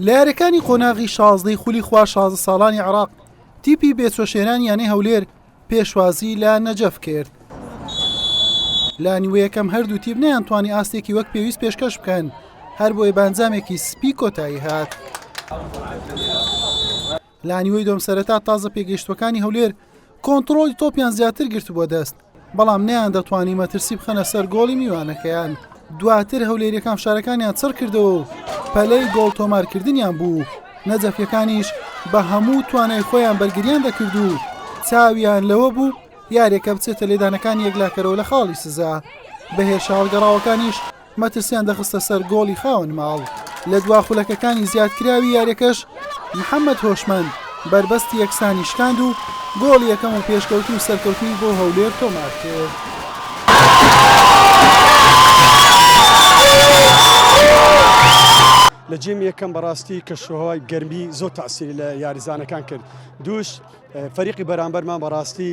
لە یاریەکانی قۆناغی شازدەی خولی خوا شازە ساڵانی عراق تیپی بێچۆشێنان یانەی هەولێر پێشوازی لە نەجەف کرد لە نیوە یەکەم هەردوو تیپ نیان توانی ئاستێکی وەک پێویست پێشکەش بکەن هەر بۆیە بانجامێکی سپی کۆتایی هات. لە نیوەی دووەم سەرەتا تازە پێگەیشتووەکانی هەولێر کۆنتڕۆڵی تۆپیان زیاتر گرتبووە دەست، بەڵام نەیان دەتوانی مەترسی بخەنە سەر گۆڵی میوانەکەیان، دواتر هەولێریەکان فشارەکانیان چڕکردەوە و پەلەی گۆڵ تۆمارکردنیان بوو، نەجەفیەکانیش بە هەموو توانای خۆیان بەرگریان دەکرد و چاویان لەوە بوو یاریەکە بچێتە لێدانەکانی یەکلاکەرەوە لە خاڵی سزا، بەهێرشە هەڵگەڕاوەکانیش مەترسیان دەخستە سەر گۆڵی خاوەن ماڵ، لە دوا خولەکەکانی زیادکراوی یاریەکەش محەمەد هۆشمەند بەربەستی یەکسانی شکاند و گۆڵی یەکەم و پێشکەوتن و سەرکەوتنی بۆ هەولێر تۆمار کرد. لە جیم یەکەم بەڕاستی کەشوهوای گەرمی زۆر تاسیری لە یاریزانەکان کرد دووش فەریقی بەرامبەرمان بەڕاستی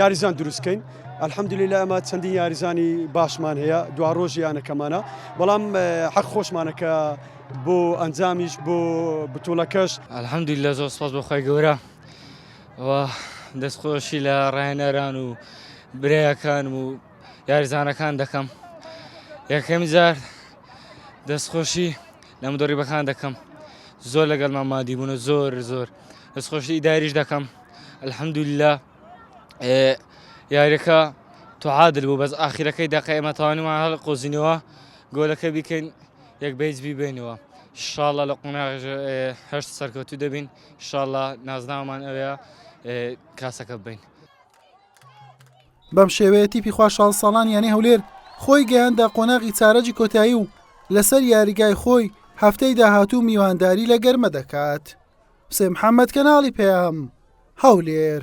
یاریزان دروست کەین ئەلحەمدلیلا ئەمە چەندین یاریزانی باشمان هەیە دوا ڕۆژی یانەکەمانە بەڵام حەق خۆشمانە کە بۆ ئەنجامیش بۆ بتوڵەکەش ئەلحەمدلیلا زۆر سپاس بۆخوای گەورە دەستخۆشی لە ڕایەنەران و برایەکان و یاریزانەکان دەکەم یەکەمی جار دەستخۆشی لە مدۆڕیبەکان دەکەم زۆر لەگەڵمان مادیبوون و زۆر زۆر دەست خۆشی ئیداریش دەکەم الحمدللە یاریەکە توعادل بوو بەس ئاخیرەکەی دەقە ئێمە توانیمان هەڵ قۆزینەوە گۆلەکە بیکەین یەک بەیج بیبێنەوە شاڵە لە قۆناغ هەشت سەرکەوتو دەبین شاڵە نازناومان ئەوەیە کاسەکە بین بەم شێوەیە تیپی خوشحال ساڵان یانی هەولێر خۆی گەیاندە قۆناغی چارەجی کۆتایی و لەسەر یاریگای خۆی هەفتەی داهاتوو میوانداری لە گەرمە دەکات. حسێن محەممەد کەناڵی پەیام، هەولێر.